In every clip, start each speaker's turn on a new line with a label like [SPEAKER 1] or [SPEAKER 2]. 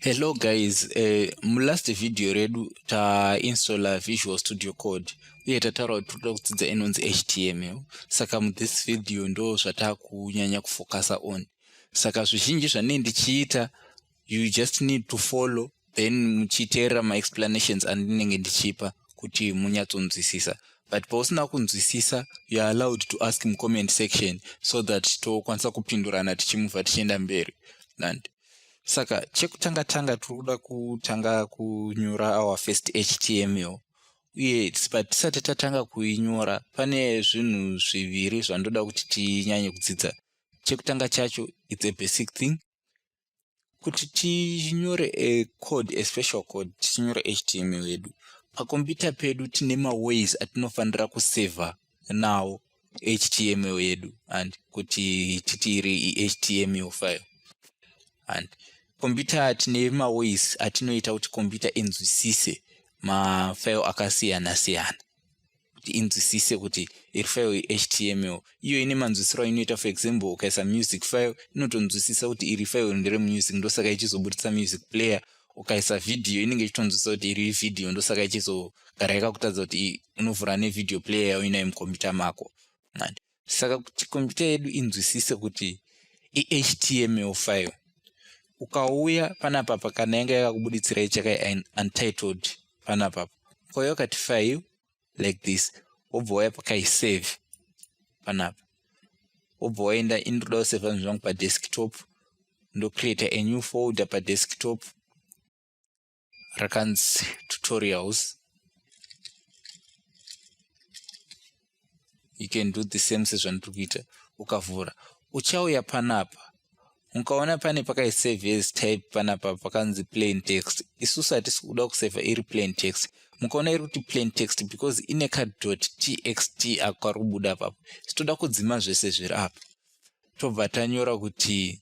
[SPEAKER 1] Hello guys, uh, mulast video redu tainstalla Visual Studio Code uye tataura kuti toda kudzidza inonzi HTML. Saka muthis video ndo zvatakunyanya kufokasa on. Saka zvizhinji zvanei ndichiita you just need to follow then muchiteerera maexplanations andinenge ndichipa kuti munyatsonzwisisa but pausina kunzwisisa you are allowed to ask mucomment section so that tokwanisa kupindurana tichimubva tichienda mberi and saka chekutanga tanga tiri kuda kutanga kunyora our first html uye but tisati tatanga kuinyora pane zvinhu zviviri zvandoda kuti tinyanye kudzidza chekutanga chacho its a basic thing kuti tinyore a code a special code tichinyora html yedu pakombiyuta pedu tine maways atinofanira kusevha nawo html yedu and kuti titi iri ihtml file and kombiyuta tine maways atinoita kuti kombiyuta inzwisise mafile akasiyana siyana kuti inzwisise kuti iri file ihtml iyo ine manzwisiro ainoita for example ukaisa music file inotonzwisisa kuti iri file ndere music ndosaka ichizoburitsa music player ukaisa vhidhiyo inenge ichitonzwisisa kuti iri vhidhiyo ndosaka ichizogara yakakutadza kuti unovhura nevideo player yauinayo mukombiyuta mako saka kuti kompyuta yedu inzwisise kuti ihtml file ukauya panapa pakana yanga yakakubuditsira chaka untitled panapa ukauya ukati file like this wobva waya pakaisave panapa wobva waenda indoda kuseva zvinhu zvangu padesktop ndocreata a new folder padesktop rakanzi tutorials you can do the same sezvandiri kuita ukavhura uchauya panapa ukaona pane pakaisave as type panapa pakanzi plain text isusu hatisi kuda kuseva iri plain text mukaona iri kuti plain text because ine kadot txt ako kari kubuda apapo sitoda kudzima zvese zviri apa tobva tanyora kuti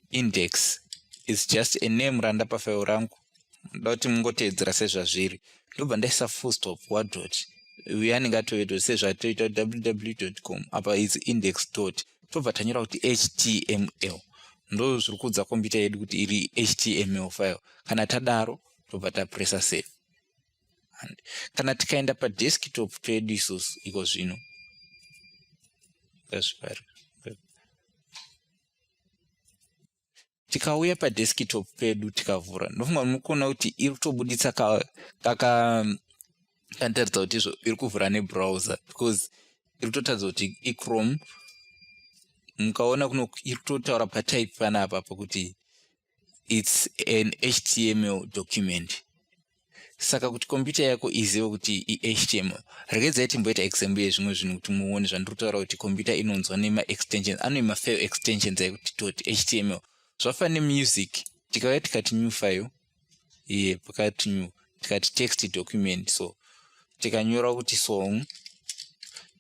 [SPEAKER 1] index is just a name randapa file rangu ndoda kuti mungoteedzera sezvazviri ndobva ndaisa full stop wadot uye anenge atovedot sezvatoita ww com apa is index dot tobva tanyora kuti html ndo zviri kuudza kombiyuta yedu kuti iri html file kana tadaro tobva tapresa save and kana tikaenda padesktop pedu isusu iko zvino tikauya padesktop pedu tikavhura ndofunga munokuona kuti iri kutobuditsa kakandiratidza kuti izvo iri kuvhura nebrowser because iri kutotaridza kuti ichrome mukaona kuno iri kutotaura patype panapa pakuti its an html document saka kuti computer yako izive kuti ihtml regedzai timboita example yezvimwe zvinhu kuti muone zvandiri kutaura kuti computer inonzwa nemaextensions ano mafile extensions ekuti toti html zvafana nemusic tikauya tikati new file iye pakati new tikati text document so tikanyora kuti song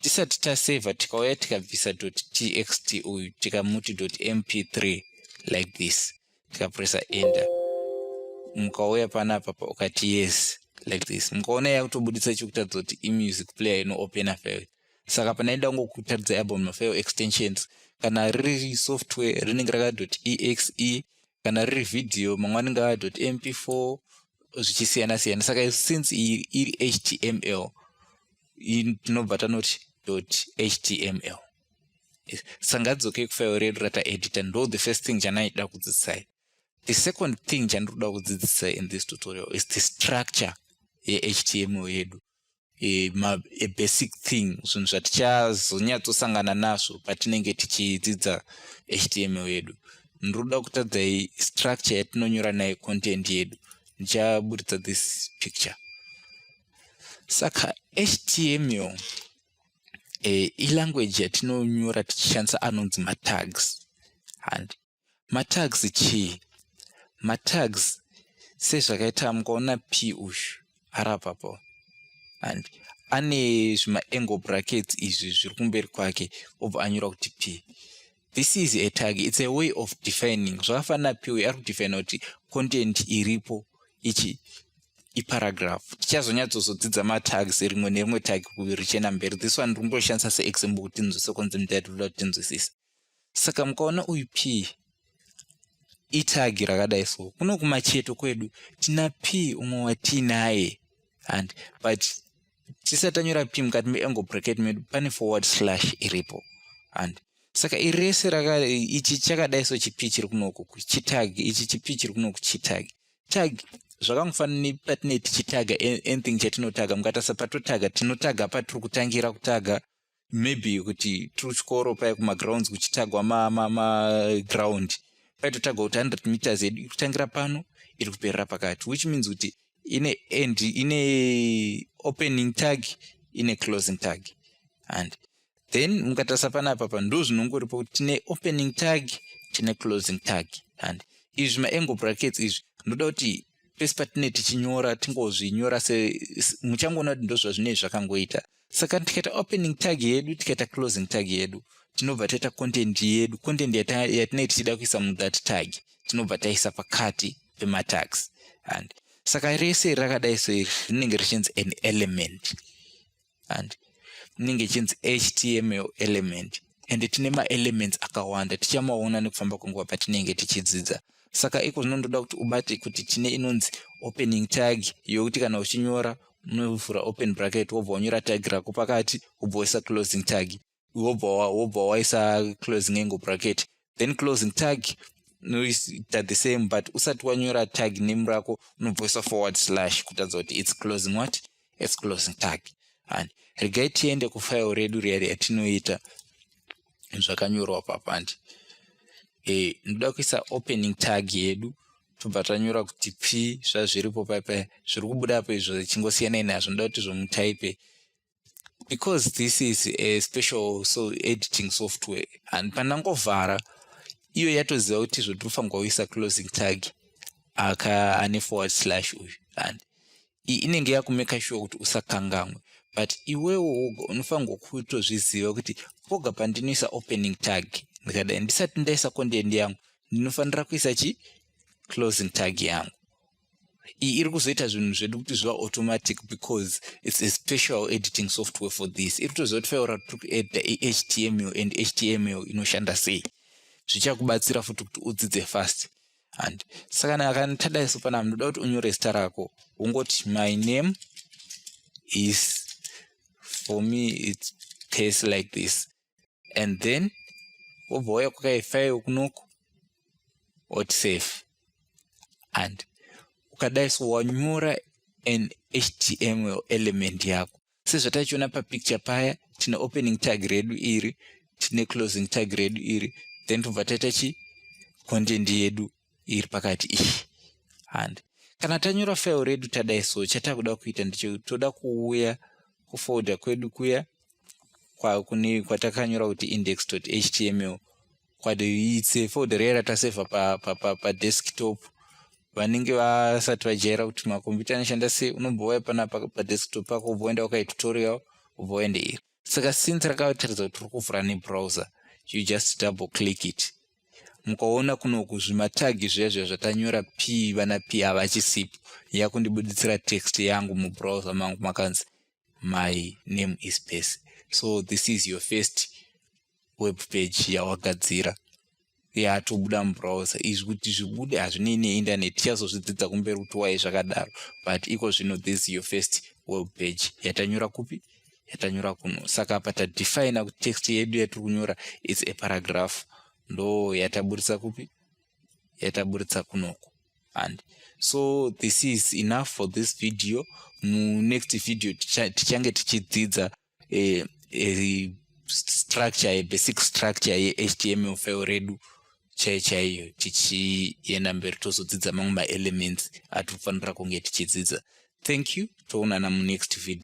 [SPEAKER 1] tisati taseva tikauya tikabvisa txt uyu tikamuti mp3 like this tikapresa enter mukauya panapa pa ukati yes like this mukaona yakutobudisa chekutadza kuti imusic player inoopena file saka panaida kungokutadza album mafile extensions kana riri software rinenge rakadoti exe kana riri video mangwani ngava mp4 zvichisiyana siyana saka since iri html tinobva tanoti html sangadzokei kufairo redu rataedita ndo the first thing chanaida kudzidzisai the second thing chandiri kuda kudzidzisai in this tutorial is the structure yehtml yedu e, ma, a basic thing zvinhu zvatichazonyatsosangana nazvo patinenge tichidzidza html yedu ndinoda kutadzai structure yatinonyora nayo content yedu ndichaburitsa this picture saka html e, ilanguage yatinonyora tichishandisa anonzi matags and matags chii matags sezvakaita mukaona p uyu arapapo and ane zvimaangle brackets izvi zviri kumberi kwake obva anyora kuti p this is a tag its a way of defining zvakafanana p uyu ari kudefina kuti content iripo ichi iparagraph tichazonyatsozodzidza matags rimwe nerimwe tag richena mberi this one ringoshandisa seexample kuti tinzwise konzi mdadula tinzwisisa saka mukaona uyu p itagi rakadai so kuno kumacheto kwedu tina p umwe watiinaye and but tisatanyora p mukati meengo bracket medu pane forward slash iripo and saka iri rese raka ichi chakadai so chipi chiri kunoku kuchitag ichi chipi chiri kunoku chitag tag zvakangofanana nepatine tichitaga anything chatinotaga mukatarisa patotaga tinotaga patiri kutangira kutaga maybe kuti tiri kuchikoro paya kumagrounds kuchitagwa maground ma, ma paitotagwa kuti 100 meters yedu iri kutangira pano iri kuperera pakati which means kuti ine end ine opening tag ine closing tag and then mukatarisa panapa pa ndo zvinongoripo kuti tine opening tag tine closing tag and izvi maangle brackets izvi ndoda kuti pese patine tichinyora tingozvinyora semuchangoona kuti ndozvazvinei zvakangoita saka tikaita opening tag yedu tikaita closing tag yedu tinobva taita content yedu content yatinei tichida kuisa muthat tag tinobva taisa pakati pematags and saka rese rakadai so iri rinenge richinzi an element and inenge ichinzi html element and tine maelements akawanda tichamaona nekufamba kwenguva patinenge tichidzidza saka iko zvino ndoda kuti ubate kuti tine inonzi opening tag yokuti kana uchinyora unovhura open bracket wobva wanyora tag rako pakati wobva waisa closing tag wobva waisa closing angle bracket then closing tag noita the same but usati wanyora tag name rako unobvoisa forward slash kutadza kuti its closing what its closing tag and regai tiende kufile redu riya yatinoita zvakanyorwa papandi e, eh, ndoda kuisa opening tag yedu tobva tanyora kuti p zvazviripo paipa zviri kubuda apo izvo zichingo siyanai nazvo ndoda kuti zvomutaipe because this is a special so editing software and pandangovhara iyo yatoziva kuti zvotofanirwa kuisa closing tag aka ane forward slash uyu and inenge yakumeka shuwa kuti usakangamwe but iwewo woga unofanirwa kutozviziva kuti poga pandinoisa opening tag ndikadai ndisati ndaisa content yangu ndinofanira kuisa chi closing tag yangu iyi iri kuzoita zvinhu zvedu kuti zviva automatic because its a special editing software for this iri kutoziva kuti faura tiri kuedita ihtml and html inoshanda sei zvichakubatsira futi kuti udzidze fast and saka akantadai so pana munoda kuti unyore zita rako wongoti my name is for me its pace like this and then wobva wauya kwakaifaiwo kunoko oti safe and ukadai so wanyora an html element yako sezvatachiona papicture paya tine opening tag redu iri tine closing tag redu iri then tobva taita chi content yedu iri pakati iyi handi kana tanyora file redu tadai so chatakuda kuita ndicho toda kuuya kufolder kwedu kuya kwakune kwatakanyora kuti index html kwadoitse folder riya ratasevha padesktop pa, pa, pa vanenge vasati vajaira kuti makombiyuta anoshanda sei unombouya pana padesktop pako ubva uenda wakaita tutorial ubva uende iri saka since rakataridza kuti uri kuvhura nebrowser you just double click it mukaona kunoku zvimatagi zvezve zvatanyora p vana p havachisipo yakundibuditsira text yangu mubrowser mangu makanzi my name is pese so this is your first web page yawagadzira yatobuda mubrowser izvi kuti zvibude hazvinei neinternet tichazozvidzidza kumberi kuti wai zvakadaro but iko zvino this is your first web page yatanyora kupi yatanyora kuno saka apa tadefina kuti text yedu yatiri kunyora its a paragraph ndo yataburitsa kupi yataburitsa kunoku and so this is enough for this video munext video tichange tichidzidza eh, eh, structure yebasic structure yehtml file redu chaiyo chaiyo tichienda mberi tozodzidza mamwe maelements atiri kufanira kunge tichidzidza thank you toonana munext video